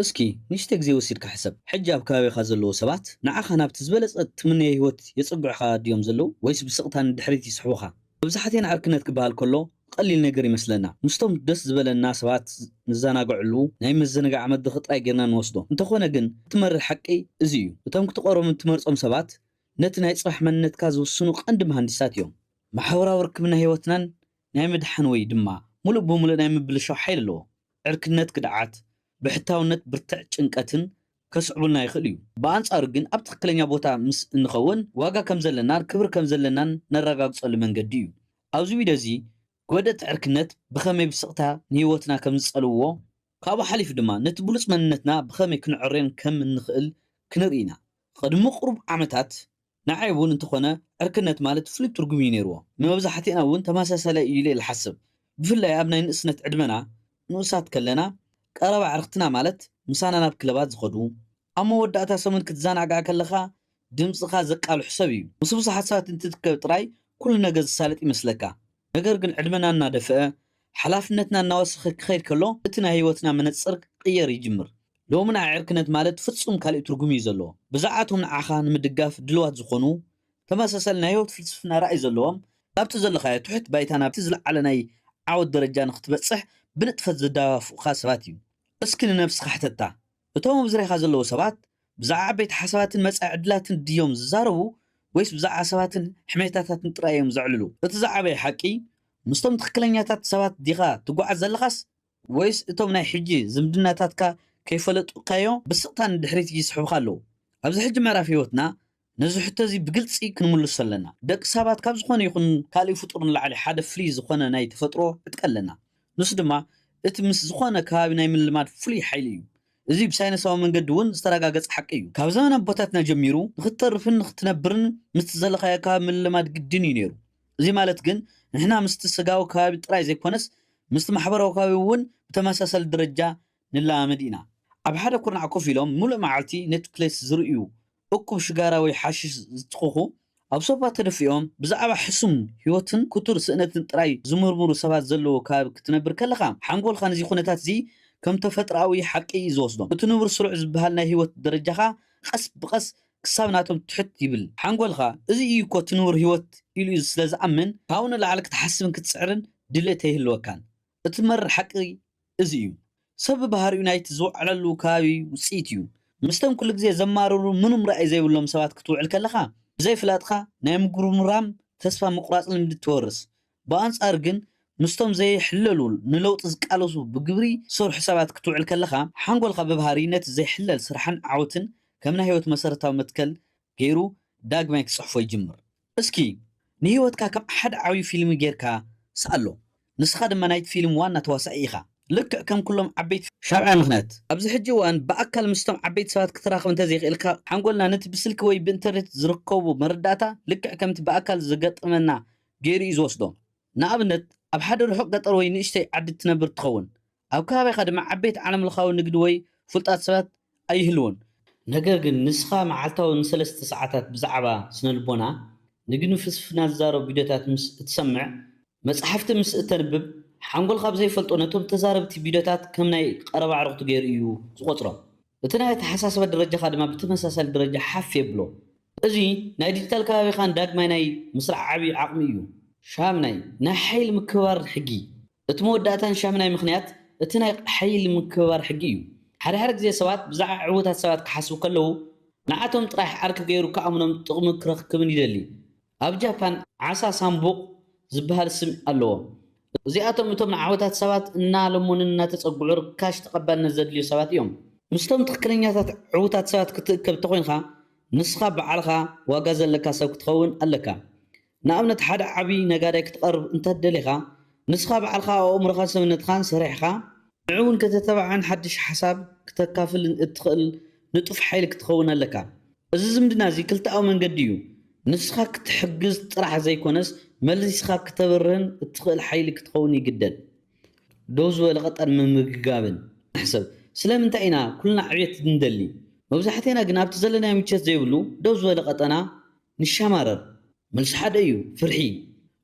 እስኪ ንእሽተይ ግዜ ወሲድካ ሕሰብ፣ ሕጂ ኣብ ከባቢኻ ዘለዉ ሰባት ንዓኻ ናብቲ ዝበለጸ ትምነዮ ህይወት የጸግዑኻ ድዮም ዘለዉ ወይስ ብስቕታ ንድሕሪት ይስሕቡኻ? መብዛሕቴና ዕርክነት ክበሃል ከሎ ቐሊል ነገር ይመስለና፣ ምስቶም ደስ ዝበለና ሰባት ንዘናግዐሉ ናይ መዘነጋዓ መድረኽ ጥራይ ጌርና ንወስዶ። እንተኾነ ግን እቲ መሪር ሓቂ እዚ እዩ፣ እቶም ክትቐርቦምን ትመርጾም ሰባት ነቲ ናይ ጽባሕ መንነትካ ዝውስኑ ቐንዲ መሃንዲሳት እዮም። ማሕበራዊ ርክብና ህይወትናን ናይ ምድሓን ወይ ድማ ምሉእ ብምሉእ ናይ ምብልሻው ሓይሊ ኣለዎ። ዕርክነት ክድዓት፣ ብሕታውነት ብርትዕ ጭንቀትን ከስዕቡልና ይኽእሉ እዩ። ብኣንጻሩ ግን ኣብ ትኽክለኛ ቦታ ምስ እንኸውን ዋጋ ከም ዘለናን ክብሪ ከም ዘለናን ነረጋግጸሉ መንገዲ እዩ። ኣብዚ ቪድዮ እዚ ጎደእቲ ዕርክነት ብኸመይ ብስቕታ ንህይወትና ከም ዝጸልውዎ ካብኡ ሓሊፉ ድማ ነቲ ብሉጽ መንነትና ብኸመይ ክንዕርዮን ከም እንኽእል ክንርኢ ኢና። ቕድሚ ቕሩብ ዓመታት ንዓይ እውን እንተኾነ ዕርክነት ማለት ፍሉይ ትርጉም እዩ ነይርዎ። ንመብዛሕቲእና እውን ተመሳሳላይ እዩ ኢለ ልሓስብ። ብፍላይ ኣብ ናይ ንእስነት ዕድመና ንኡሳት ከለና ቀረባ ኣዕርኽትና ማለት ምሳና ናብ ክለባት ዝኸዱ፣ ኣብ መወዳእታ ሰሙን ክትዘናጋዕ ከለኻ ድምጽኻ ዘቃልሑ ሰብ እዩ። ምስ ብዙሓት ሰባት እንትትከብ ጥራይ ኩሉ ነገር ዝሳለጥ ይመስለካ። ነገር ግን ዕድመና እናደፍአ ሓላፍነትና እናወሰኸ ክኸይድ ከሎ እቲ ናይ ህይወትና መነጽር ክቕየር ይጅምር። ሎሚ ንዓ ዕርክነት ማለት ፍጹም ካልእ ትርጉም እዩ ዘለዎ። ብዛዕባ'ቶም ንዓኻ ንምድጋፍ ድልዋት ዝኾኑ፣ ተመሳሳሊ ናይ ህይወት ፍልስፍና ራእይ ዘለዎም፣ ካብቲ ዘለኻዮ ትሑት ባይታ ናብቲ ዝለዓለ ናይ ዓወት ደረጃ ንኽትበጽሕ ብንጥፈት ዝደፋፍኡኻ ሰባት እዩ። እስኪ ንነብስኻ ሕተታ፣ እቶም ኣብ ዙርያኻ ዘለዉ ሰባት ብዛዕባ ዓበይቲ ሓሳባትን መጻኢ ዕድላትን ድዮም ዝዛረቡ ወይስ ብዛዕባ ሰባትን ሕሜታታትን ጥራይ እዮም ዘዕልሉ? እቲ ዝዓበየ ሓቂ፣ ምስቶም ትኽክለኛታት ሰባት ዲኻ ትጓዓዝ ዘለኻስ ወይስ እቶም ናይ ሕጂ ዝምድናታትካ ከይፈለጡካዮ ብስቕታ ንድሕሪት ይስሕቡኻ ኣለዉ? ኣብዚ ሕጂ ምዕራፍ ህይወትና፣ ነዚ ሕቶ እዚ ብግልጺ ክንምልሶ ኣለና። ደቂ ሳባት ካብ ዝኾነ ይኹን ካልእ ፍጡር ንላዕሊ ሓደ ፍልይ ዝኾነ ናይ ተፈጥሮ ዕጥቂ ኣለና። ንሱ ድማ እቲ ምስ ዝኾነ ከባቢ ናይ ምልማድ ፍሉይ ሓይሊ እዩ። እዚ ብሳይነሳዊ መንገዲ እውን ዝተራጋገጸ ሓቂ እዩ። ካብ ዘመን ኣቦታትና ጀሚሩ ንኽትተርፍን ንኽትነብርን ምስቲ ዘለኻዮ ከባቢ ምልማድ ግድን እዩ ነይሩ። እዚ ማለት ግን ንሕና ምስቲ ስጋዊ ከባቢ ጥራይ ዘይኮነስ ምስቲ ማሕበራዊ ከባቢ እውን ብተመሳሳሊ ደረጃ ንለማመድ ኢና። ኣብ ሓደ ኩርናዕ ኮፍ ኢሎም ምሉእ መዓልቲ ኔትክሌስ ዝርእዩ እኩብ ሽጋራ ወይ ሓሽሽ ዝትኽኹ፣ ኣብ ሶፋ ተደፊኦም ብዛዕባ ሕሱም ህይወትን ክቱር ስእነትን ጥራይ ዝምርምሩ ሰባት ዘለዎ ከባቢ ክትነብር ከለኻ፣ ሓንጎልካ ነዚ ኩነታት'ዚ ከም ተፈጥሮኣዊ ሓቂ እዩ ዝወስዶ። እቲ ንቡር ስሩዕ ዝበሃል ናይ ህይወት ደረጃኻ ቐስ ብቐስ ክሳብ ናቶም ትሕት ይብል። ሓንጎልካ እዚ እዩ'ኮ እቲ ንቡር ህይወት ኢሉ ስለ ዝኣምን፣ ካብኡ ንላዕሊ ክትሓስብን ክትጽዕርን ድሌት ኣይህልወካን። እቲ መሪር ሓቂ እዚ እዩ ሰብ ብባህሪኡ ናይቲ ዝወዓለሉ ከባቢ ውጽኢት እዩ። ምስተም ኩሉ ግዜ ዘማርሩ ምኑም ራኢ ዘይብሎም ሰባት ክትውዕል ከለኻ ብዘይ ፍላጥካ ናይ ምጉርምራም ተስፋ ምቁራጽ ልምዲ ትወርስ። ብኣንጻሩ ግን ምስቶም ዘይሕለሉ ንለውጢ ዝቃለሱ ብግብሪ ዝሰርሑ ሰባት ክትውዕል ከለኻ ሓንጎልካ ብባህሪ ነቲ ዘይሕለል ስራሕን ዓወትን ከም ናይ ህይወት መሰረታዊ መትከል ገይሩ ዳግማይ ክጽሕፎ ይጅምር። እስኪ ንህይወትካ ከም ሓደ ዓብዪ ፊልሚ ጌርካ ስኣሎ። ንስኻ ድማ ናይቲ ፊልም ዋና ተዋሳኢ ኢኻ። ልክዕ ከም ኩሎም ዓበይቲ። ሻብዓይ ምኽንያት፣ ኣብዚ ሕጂ እዋን ብኣካል ምስቶም ዓበይቲ ሰባት ክትራኽብ እንተዘይክኢልካ፣ ሓንጎልና ነቲ ብስልኪ ወይ ብኢንተርኔት ዝርከቡ መረዳእታ ልክዕ ከምቲ ብኣካል ዝገጥመና ገይሩ እዩ ዝወስዶ። ንኣብነት፣ ኣብ ሓደ ርሑቕ ገጠር ወይ ንእሽተይ ዓዲ እትነብር እትኸውን፣ ኣብ ከባቢኻ ድማ ዓበይቲ ዓለምለኻዊ ንግዲ ወይ ፍሉጣት ሰባት ኣይህልዉን። ነገር ግን ንስኻ መዓልታዊ ንሰለስተ ሰዓታት ብዛዕባ ስነልቦና፣ ንግድን ፍልስፍናን ዝዛረቡ ቪድዮታት ምስ እትሰምዕ፣ መጻሕፍቲ ምስ እተንብብ፣ ሓንጎልካ ብዘይፈልጦ ነቶም ተዛረብቲ ቪድዮታት ከም ናይ ቀረባ ኣዕሩኽቱ ገይሩ እዩ ዝቖጽሮም። እቲ ናይ ኣተሓሳስባ ደረጃኻ ድማ ብተመሳሳሊ ደረጃ ሓፍ የብሎ። እዚ ናይ ዲጂታል ከባቢኻ ንዳግማይ ናይ ምስራዕ ዓቢ ዓቕሚ እዩ። ሻምናይ፣ ናይ ሓይሊ ምክብባር ሕጊ። እቲ መወዳእታን ሻምናይ ምኽንያት እቲ ናይ ሓይሊ ምክብባር ሕጊ እዩ። ሓደ ሓደ ግዜ ሰባት ብዛዕባ ዕዉታት ሰባት ክሓስቡ ከለዉ ንዓቶም ጥራሕ ዓርኪ ገይሩ ክኣምኖም ጥቕሚ ክረክብን ይደሊ። ኣብ ጃፓን ዓሳ ሳምቡቕ ዝበሃል ስም ኣለዎም። እዚኣቶም እቶም ንዓወታት ሰባት እናለመኑን እናተጸግዑ ርካሽ ተቐባልነት ዘድልዩ ሰባት እዮም። ምስቶም ትኽክለኛታት ዕዉታት ሰባት ክትእከብ እንተኾይንካ ንስኻ ባዕልኻ ዋጋ ዘለካ ሰብ ክትኸውን ኣለካ። ንኣብነት ሓደ ዓቢ ነጋዳይ ክትቐርብ እንተ ደሊኻ፣ ንስኻ ባዕልኻ ኣብ ኣእምሮኻን ሰብነትኻን ሰሪሕኻ፣ ንዕኡ ውን ከተተባብዕን ሓድሽ ሓሳብ ክተካፍልን እትኽእል ንጡፍ ሓይሊ ክትኸውን ኣለካ። እዚ ዝምድና እዚ ክልተኣዊ መንገዲ እዩ፣ ንስኻ ክትሕግዝ ጥራሕ ዘይኮነስ መሊስኻ ክተብርህን እትኽእል ሓይሊ ክትኸውን ይግደድ። ደው ዝበለ ቀጠር ምምግጋብን። ንሕሰብ፣ ስለምንታይ ኢና ኩልና ዕብየት እንደሊ፣ መብዛሕቴና ግን ኣብቲ ዘለናዮ ምቸት ዘይብሉ ደው ዝበለ ቀጠና ንሻማረር መልሱ ሓደ እዩ ፍርሒ።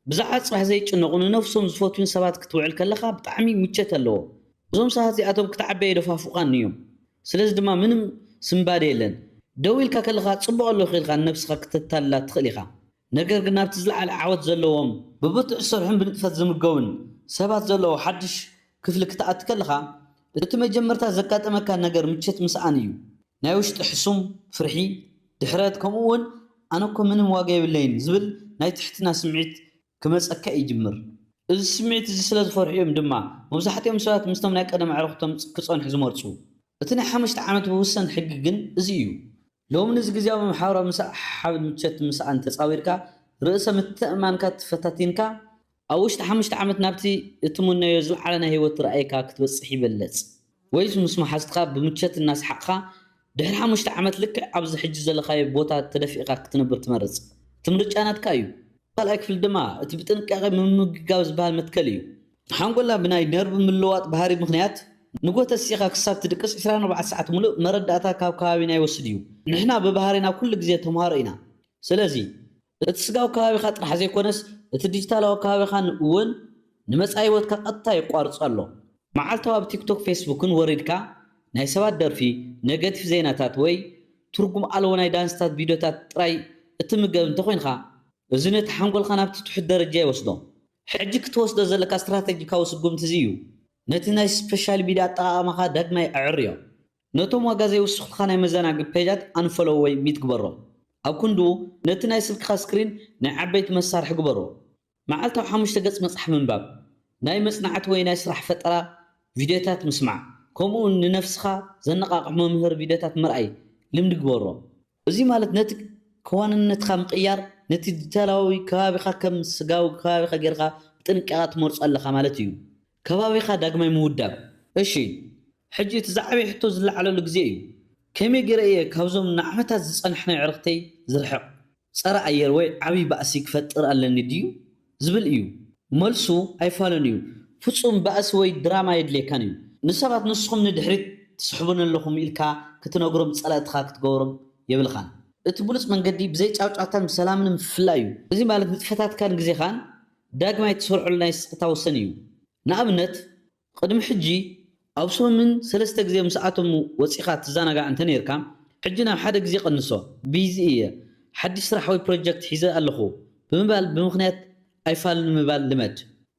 ብዛዕባ ጽባሕ ዘይጭነቁ ንነብሶም ዝፈትዉን ሰባት ክትውዕል ከለኻ ብጣዕሚ ምቸት ኣለዎ። እዞም ሰባት እዚኣቶም ክትዓቢ ኣይደፋፉካን ንዮም። ስለዚ ድማ ምንም ስንባደ የለን። ደው ኢልካ ከለኻ ጽቡቅ ኣለኹ ኢልካ ንነብስኻ ክተታልላ ትኽእል ኢኻ። ነገር ግን ናብቲ ዝለዓለ ዓወት ዘለዎም፣ ብብርቱዕ ዝሰርሑን ብንጥፈት ዝምገቡን ሰባት ዘለዎ ሓድሽ ክፍሊ ክትኣቲ ከለኻ እቲ መጀመርታ ዘጋጥመካ ነገር ምቸት ምስኣን እዩ። ናይ ውሽጢ ሕሱም ፍርሒ፣ ድሕረት፣ ከምኡ'ውን ኣነ'ኮ ምንም ዋጋ የብለይን ዝብል ናይ ትሕትና ስምዒት ክመጸካ ይጅምር። እዚ ስምዒት እዚ ስለ ዝፈርሑ እዮም ድማ መብዛሕትኦም ሰባት ምስቶም ናይ ቀደም ኣዕሩኽቶም ክጸንሑ ዝመርጹ። እቲ ናይ ሓሙሽተ ዓመት ብውሰን ሕጊ ግን እዚ እዩ። ሎሚ ነዚ ግዝያዊ መሓውራዊ ምስሕሓብን ምቾት ምስኣን ተጻዊርካ ርእሰ ምትእምማንካ ተፈታቲንካ ኣብ ውሽጢ ሓሙሽተ ዓመት ናብቲ እትምነዮ ዝለዓለ ናይ ህይወት ራእይካ ክትበጽሕ ይበለጽ ወይስ ምስ መሓዙትካ ብምቾት እናሰሓቕካ ድሕሪ ሓሙሽተ ዓመት ልክዕ ኣብዚ ሕጂ ዘለኻዮ ቦታ ተደፊእካ ክትነብር ትመርጽ? እቲ ምርጫ ናትካ እዩ። ኣብ ካልኣይ ክፍሊ ድማ እቲ ብጥንቃቄ ምምግጋብ ዝበሃል መትከል እዩ። ሓንጎልና ብናይ ነርቭ ምልውዋጥ ባህሪ ምኽንያት ንግሆ ተሲእኻ ክሳብ ትድቅስ ዕስራን ኣርባዕተ ሰዓት ምሉእ መረዳእታ ካብ ከባቢና ይወስድ እዩ። ንሕና ብባህሪና ኩሉ ግዜ ተምሃሮ ኢና። ስለዚ እቲ ስጋዊ ከባቢኻ ጥራሕ ዘይኮነስ እቲ ዲጂታላዊ ከባቢኻን እውን ንመጻኢ ህይወትካ ቀጥታ የቋርጾ ኣሎ። መዓልታዊ ኣብ ቲክቶክ ፌስቡክን ወሪድካ ናይ ሰባት ደርፊ፣ ነገቲፍ ዜናታት ወይ ትርጉም ኣልቦ ናይ ዳንስታት ቪድዮታት ጥራይ እትምገብ እንተኾይንካ እዚ ነቲ ሓንጎልካ ናብቲ ትሑት ደረጃ ይወስዶ። ሕጂ ክትወስዶ ዘለካ ስትራተጂካዊ ስጉምቲ እዚ እዩ፣ ነቲ ናይ ስፐሻል ሚድያ ኣጠቓቕማኻ ዳግማይ ኣዐርዮ። ነቶም ዋጋ ዘይውስኹልካ ናይ መዘናግዒ ፔጃት ኣንፈሎው ወይ ሚት ግበሮም። ኣብ ክንድኡ፣ ነቲ ናይ ስልክኻ ስክሪን ናይ ዓበይቲ መሳርሒ ግበሮ። መዓልታዊ ሓሙሽተ ገጽ መጽሓፍ ምንባብ፣ ናይ መጽናዕቲ ወይ ናይ ስራሕ ፈጠራ ቪድዮታት ምስማዕ፣ ከምኡውን ንነፍስኻ ዘነቓቕሑ መምሀሪ ቪድዮታት ምርኣይ ልምዲ ግበሮ። እዚ ማለት ነቲ ከዋንነትካ ምቕያር ነቲ ዲታላዊ ከባቢኻ ከም ስጋዊ ከባቢኻ ጌርካ ብጥንቃቐ ትመርጾ ኣለኻ ማለት እዩ። ከባቢኻ ዳግማይ ምውዳብ። እሺ ሕጂ እቲ ዝዓበየ ሕቶ ዝለዓለሉ ግዜ እዩ። ከመይ ጌረ እየ ካብዞም ንዓመታት ዝጸናሕናዮ ኣዕርኽተይ ዝርሕቕ? ጸረ ኣየር ወይ ዓቢ ባእሲ ክፈጥር ኣለኒ ድዩ ዝብል እዩ መልሱ ኣይፋሉን እዩ ፍጹም ባእሲ ወይ ድራማ የድልየካን እዩ ንሰባት ንስኹም ንድሕሪት ትስሕቡኒ ኣለኹም ኢልካ ክትነግሮም ጸላእትኻ ክትገብሮም የብልኻን እቲ ብሉጽ መንገዲ ብዘይ ጫውጫውታን ብሰላምን ምፍላይ እዩ እዚ ማለት ንጥፈታትካን ግዜኻን ዳግማይ ትሰርዑሉ ናይ ስቕታ ወሰን እዩ ንኣብነት ቕድሚ ሕጂ ኣብ ሰሙን ሰለስተ ግዜ ምስኣቶም ወጺኻ ትዘናጋዕ እንተ ኔርካ፣ ሕጂ ናብ ሓደ ግዜ ቀንሶ። ቢዚ እየ፣ ሓድሽ ስራሕ ወይ ፕሮጀክት ሒዘ ኣለኹ ብምባል ብምኽንያት ኣይፋልን ምባል ልመድ።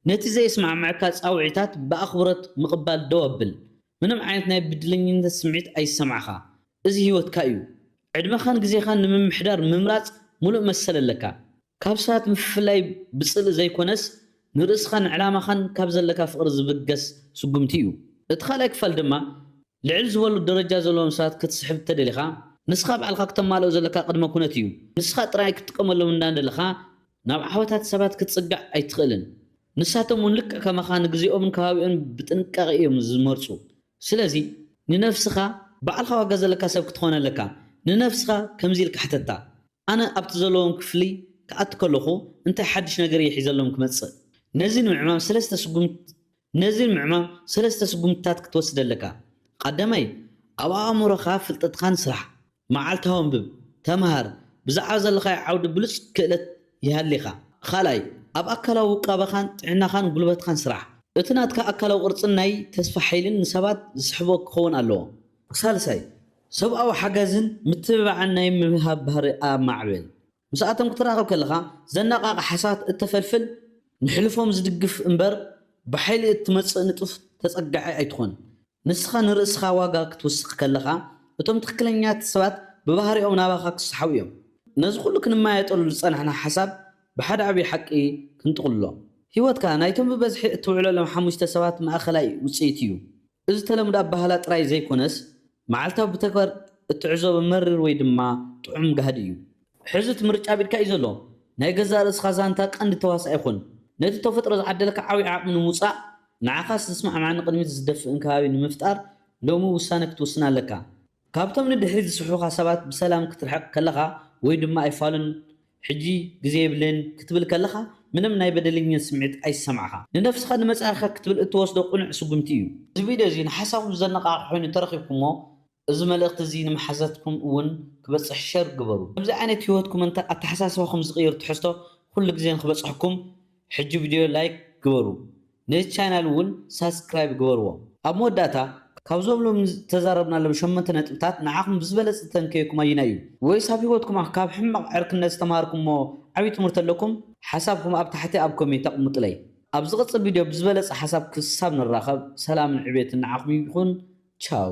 ነቲ ዘየስማዕመዐካ ጻውዒታት ብኣኽብሮት ምቕባል ደው ኣብል። ምንም ዓይነት ናይ ብድለኝነት ስምዒት ኣይሰምዓኻ። እዚ ህይወትካ'ዩ። ዕድመኻን ግዜኻን ንምምሕዳር ምምራጽ ምሉእ መሰል ኣለካ። ካብ ሰባት ምፍልላይ ብጽልኢ ዘይኰነስ፣ ንርእስኻን ዕላማኻን ካብ ዘለካ ፍቕሪ ዝብገስ ስጕምቲ እዩ። እቲ ካልኣይ ክፋል ድማ፣ ልዕል ዝበሉ ደረጃ ዘለዎም ሰባት ክትስሕብ እንተደሊኻ፣ ንስኻ ባዕልኻ ክተማልኦ ዘለካ ቅድመ ኵነት እዩ። ንስኻ ጥራይ ክትጥቀመሎም እንዳደለኻ፣ ናብ ዓወታት ሰባት ክትጽጋዕ ኣይትኽእልን። ንሳቶም'ውን ልክዕ ከማኻ ንግዜኦምን ከባቢኦምን ብጥንቃቄ እዮም ዝመርጹ። ስለዚ ንነፍስኻ፣ ባዕልኻ ዋጋ ዘለካ ሰብ ክትኾን ኣለካ፣ ንነፍስኻ ከምዚ ኢልካ ሕተታ፣ ኣነ ኣብቲ ዘለዎም ክፍሊ ክኣቱ ከለኹ እንታይ ሓድሽ ነገር እየ ሒዘሎም ክመጽእ? ነዚ ንምዕማም ሰለስተ ስጉምት ነዚ ንምዕማም ሰለስተ ስጉምትታት ክትወስድ ኣለካ። ቐዳማይ፣ ኣብ ኣእምሮኻ ፍልጠትኻ ንስራሕ። መዓልታዊ ኣንብብ፣ ተመሃር፣ ብዛዕባ ዘለኻዮ ዓውዲ ብሉጽ ክእለት ይሃሊኻ። ኻልኣይ፣ ኣብ ኣካላዊ ውቃበኻን ጥዕናኻን ጉልበትኻን ስራሕ። እቲ ናትካ ኣካላዊ ቅርጽን ናይ ተስፋ ሓይልን ንሰባት ዝስሕቦ ክኸውን ኣለዎ። ሳልሳይ፣ ሰብኣዊ ሓገዝን ምትብባዕን ናይ ምሃብ ባህሪ ኣማዕብል። ምስኣቶም ክትራኸብ ከለኻ ዘነቓቕሕ ሓሳባት እተፈልፍል፣ ንሕልፎም ዝድግፍ እምበር ብሓይሊ እትመጽእ ንጡፍ ተጸጋዒ ኣይትኹን። ንስኻ ንርእስኻ ዋጋ ክትውስኽ ከለኻ፣ እቶም ትኽክለኛት ሰባት ብባህሪኦም ናባኻ ክሰሓቡ እዮም። ነዚ ኹሉ ክንመያየጠሉ ዝጸናሕና ሓሳብ ብሓደ ዓብዪ ሓቂ ክንጥቕልሎ። ህይወትካ ናይቶም ብበዝሒ እትውዕለሎም ሓሙሽተ ሰባት ማእከላይ ውጽኢት እዩ። እዚ ተለምዶ ኣበሃህላ ጥራይ ዘይኮነስ መዓልታዊ ብተግባር እትዕዘቦ መሪር ወይ ድማ ጥዑም ጋህዲ እዩ። ሕዚ እቲ ምርጫ ኣብ ኢድካ እዩ ዘሎ። ናይ ገዛእ ርእስኻ ዛንታ ቀንዲ ተዋሳኣይ ኹን። ነቲ ተፈጥሮ ዝዓደለካ ዓብይ ዓቕሚ ንምውጻእ፣ ንዓኻስ ዝስማዕማዕን ንቕድሚት ዝደፍእን ከባቢ ንምፍጣር ሎሚ ውሳነ ክትውስን ኣለካ። ካብቶም ንድሕሪት ዝስሕቡኻ ሰባት ብሰላም ክትርሕቕ ከለኻ ወይ ድማ ኣይፋሉን ሕጂ ግዜ የብለይን ክትብል ከለኻ ምንም ናይ በደለኝነት ስምዒት ኣይሰማዕካ። ንነፍስኻ ንመጻኢኻ ክትብል እትወስዶ ቅኑዕ ስጉምቲ እዩ። እዚ ቪድዮ እዚ ንሓሳብኩም ዘነቓቕሕ ኮይኑ ተረኺብኩሞ እዚ መልእኽቲ እዚ ንመሓዛትኩም እውን ክበጽሕ ሸር ግበሩ። ከምዚ ዓይነት ህይወትኩም እንተ ኣተሓሳስባኹም ዝቕይር ትሕዝቶ ኩሉ ግዜ ንኽበጽሕኩም ሕጂ ቭድዮ ላይክ ግበሩ ነዚ ቻናል ውን ሳስክራይብ ግበርዎ። ኣብ መወዳእታ ካብዞብሎም ዝተዛረብናሎም ሸሞንተ ነጥብታት ንዓኹም ብዝበለጸ ዝተንከየኩም ኣዩናይ እዩ? ወይስ ኣብ ሂወትኩም ካብ ሕማቕ ዕርክነት ዝተማሃርኩሞ ዓቢ ትምህርቲ ኣለኩም? ሓሳብኩም ኣብ ታሕቲ ኣብ ኮሜንት ኣቕሙጥለይ። ኣብ ዝቕጽል ቪድዮ ብዝበለጸ ሓሳብ ክሳብ ንራኸብ ሰላምን ዕቤትን ንዓኹም ይኹን ቻው።